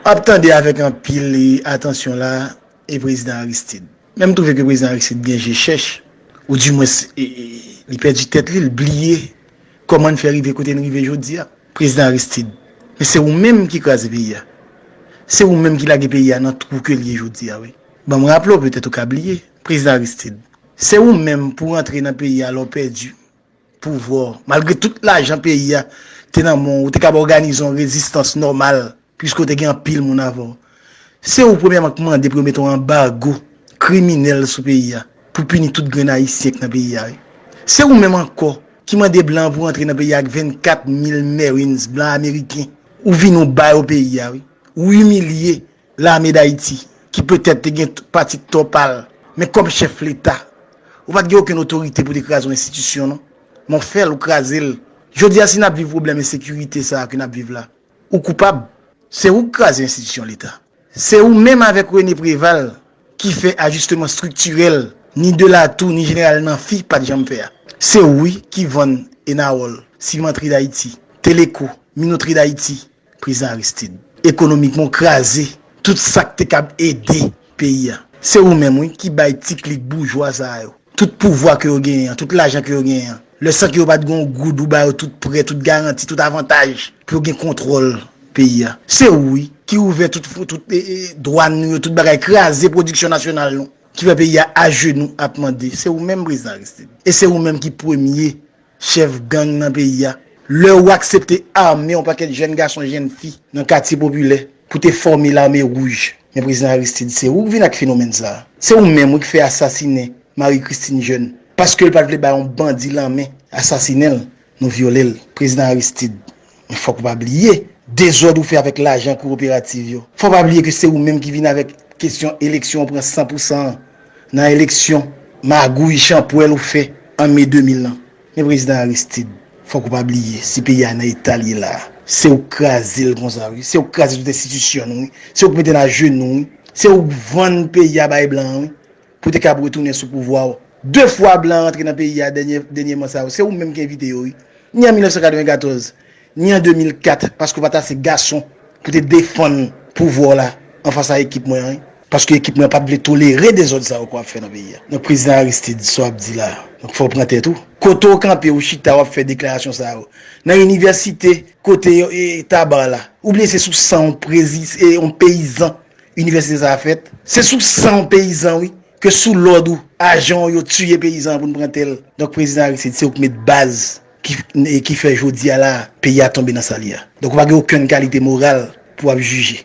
Ap tande avèk anpil atansyon la e prezidan Aristid. Men m twouve ke prezidan Aristid gen je chèch ou di mwens li pèdi tèt li, li bliye kòman n fè rive kote n rive jodi a. Prezidan Aristid, men se ou menm ki kraze peyi a. Se ou menm ki lage peyi a nan twou ke l ye jodi a wi. Ban m raple w, petèt ou ka bliye, prezidan Aristid, se ou menm pou rantre nan peyi a lè w pèdi pouvwa w. Malgre tout lajan peyi a te nan men w, ou te kab òganize yon rezistans nòmal piske w te gen anpil moun avè w. Se ou premyèman k mande pou yo mete yon anbago kriminèl sou peyi a pou pini tout grenn Ayisyen k nan peyi a wi. Se ou menm ankò ki mande blan pou antre nan peyi a ak 24 mil Marines blan ameriken. Ou vini w ba yo peyi a wi. Ou imilye Lame Dayiti, ki petèt te gen pati tò pa l, men kòm chèf Leta, ou pa t gen okenn otorite pou te kraze yon enstitisyon non. Men w fè l, ou kraze l. Jodi a si n ap viv pwoblèm ensekirite sa a ke n ap viv la, ou koupab. Se ou ki kraze enstitisyon Leta. Se ou menm avèk Rene Preval ki fè ajisteman estriktirèl ni Delatou ni Jeneral Nanfi pa t janm fè a. Se ou wi ki vann Enawòl, Simantri Dayiti, Teleko, Minotri Dayiti, Prezidan Aristid. Ekonomikman w kraze tout sa k te kab ede peyi a. Se ou menm wi ki bay ti klik boujwa sa yo tout pouvwa ke yo genyen an, tout lajan ke yo genyen an. Lè san ke yo pa t gen yon goud ou ba yo tout prè, tout garanti, tout avantaj pou yo gen kontwòl peyi a. Se ou wi ki ouvè tout dwàn nou yo, tout bagay, kraze pwodiksyon nasyonal nou ki fè peyi a ajenou ap mande. Se ou menm Prezidan Aristid. E se ou menm ki premye. chèf gang nan peyi a, lè ou aksepte ame yon pakèt jèn gason jèn fi nan katye popilè pou te fòme lame wouj. Men prezidan Aristide se ou k vin ak fenomèn sa a. Se ou menm wi k fè asasinen Marie Christine Jeune paske l pat vle bay yon bandi lanmen asasinen l nou vyole l. Prezidan Aristide Men fòk ou pa bliye dezòd ou fè avèk lajan kowoperativ yo. Fòk ou pa bliye ke se ou menm ki vin avèk kesyon eleksyon ou pran san pou san an nan eleksyon, magouy, chanpwèl ou fè an me 2000 lan. Men Prezidan Aristid, fòk ou pa bliye si peyi a nan eta l ye la a, se ou k kraze l konsa wi, se ou k kraze tout enstitisyon nou wi, se ou k mete n ajenou wi, se ou k vann peyi a bay blan an wi. Pou te kab retounen sou pouvwa w. 2 fwa blan rantre nan peyi a dènyeman sa yo, se ou menm ki envite yo wi. Ni an 1994, ni an 2004 paske w pa t ase gason pou te defann pouvwa w la anfas a ekip mwen an wi. Paske ekip mwen an pa t vle tolere dezòd sa yo ke w ap fè nan peyi a. Donk Prezidan Aristide, sa w ap di la a, donk fò w pran tèt ou. Kote w kanpe, w chita w ap fè deklarasyon sa yo? Nan inivèsite kote Tabarre la? Oubyen se sou san yon peyizan Inivèsite sa a fèt, se sou san w peyizan wi, ke sou lòd ou, ajan w yo tiye peyizan an pou n pran tè l. Donk Prezidan Aristide, se ou k met baz ki fè jodi a la a, peyi a tonbe nan sa li a. Donk ou pa gen okenn kalite moral pou w ap jije.